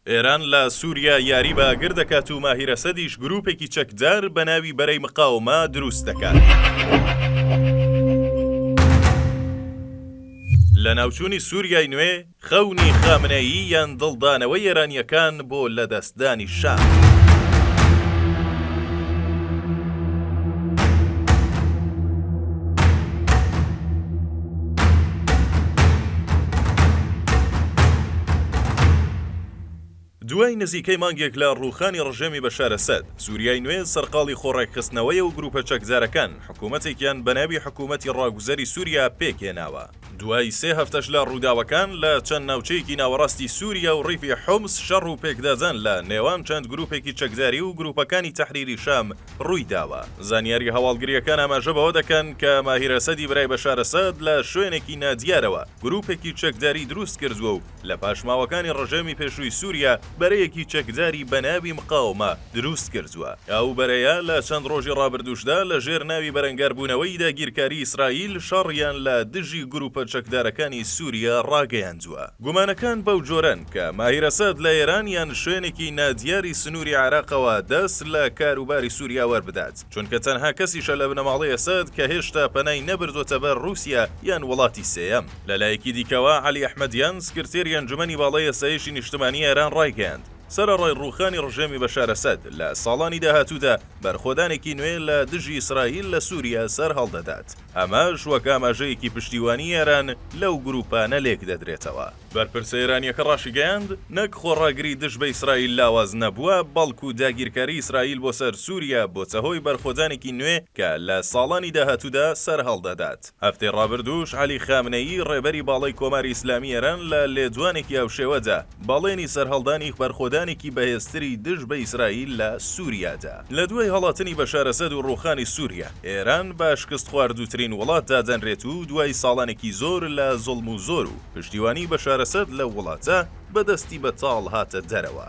ئێران لە سوریا یاری بە ئاگر دەکات و ماهیر ئەسەدیش گروپێکی چەکدار بە ناوی بەرەی مقاومە دروست دەکات. لەناوچوونی سوریای نوێ، خەونی خامنەیی یان دڵدانەوەی ئێرانییەکان بۆ لەدەستدانی شام؟ دوای نزیکەی مانگێک لە ڕووخانی ڕژێمی بەشار ئەسەد، سوریای نوێ سەرقاڵی خۆڕێکخستنەوەیە و گروپە چەکدارەکان حکومەتێکیان بە ناوی حکومەتی ڕاگوزەری سوریا پێکهێناوە. دوای سێ هەفتەش لە ڕووداوەکان لە چەند ناوچەیەکی ناوەڕاستی سوریا و ڕیفی حومس شەڕ و پێکدادان لە نێوان چەند گروپێکی چەکداری و گروپەکانی تەحریری شام روویداوە. زانیارییە هەواڵگرییەکان ئاماژە بەوە دەکەن کە ماهیر ئەسەدی برای بەشار ئەسەد لە شوێنێکی نادیارەوە گرووپێکی چەکداری دروست کردووە و لە پاشماوەکانی رژێمی پێشووی سووریا بەرەیەکی چەکداری بە ناوی مقاومە دروست کردووە. ئەو بەرەیە لە چەند رۆژی رابردووشدا لە ژێر ناوی بەرەنگاربوونەوەی داگیرکاریی ئیسرائیل شەڕیان لە دژی گرووپە چەکدارەکانی سووریا راگەیاندووە. گومانەکان بەو جۆرەن کە ماهیر ئەسەد لە ئێران یان شوێنێکی نادیاری سنووری عێراقەوە دەست لە کاروباری سووریا وەربدات، چونکە تەنها کەسیشە لە بنەماڵەی ئەسەد کە هێشتا پەنای نەبردووەتە بەر ڕووسیا یان وڵاتی سێیەم. لە لایەکی دیکەوە، عەلی ئەحمەدیان، سکرتێری ئەنجومەنی باڵای ئاسایشی نیشتمانیی ئێران ڕایگەیاند، سەرەڕای ڕووخانی ڕژێمی بەشار ئەسەد، لە ساڵانی داهاتوودا بەرخۆدانێکی نوێ لە دژی ئیسرائیل لە سووریا سەرهەڵدەدات. ئەمەش وەک ئاماژەیەکی پشتیوانی ئێران لەو گرووپانە لێکدەدرێتەوە. بەرپرسە ئێرانییەکە ڕاشیگەیاند، نەک خۆڕاگری دژ بە ئیسرائیل لاواز نەبووە، بەڵکو داگیرکاریی ئیسرائیل بۆ سەر سووریا بۆتە هۆی بەرخۆدانێکی نوێ کە لە ساڵانی داهاتوودا سەرهەڵدەدات. هەفتەی ڕابردووش عەلی خامنەیی ڕێبەری باڵای کۆماری ئیسلامیی ئێران لە لێدوانێکی هاوشێوەدا، بەڵێنی سەرهەڵدانی بەرخۆدانێکی بەهێزتری دژ بە ئیسرائیل لە سووریا دا. لە دوای هەڵاتنی بەشار ئەسەد و ڕووخانی سووریا، ئێران بە شکستخواردووترین وڵات دادەنرێت و دوای ساڵانێکی زۆر لە زوڵم و زۆر و پشتیوانی بەشار ئەسەد لەو وڵاتە، بە دەستی بەتاڵ هاتە دەرەوە.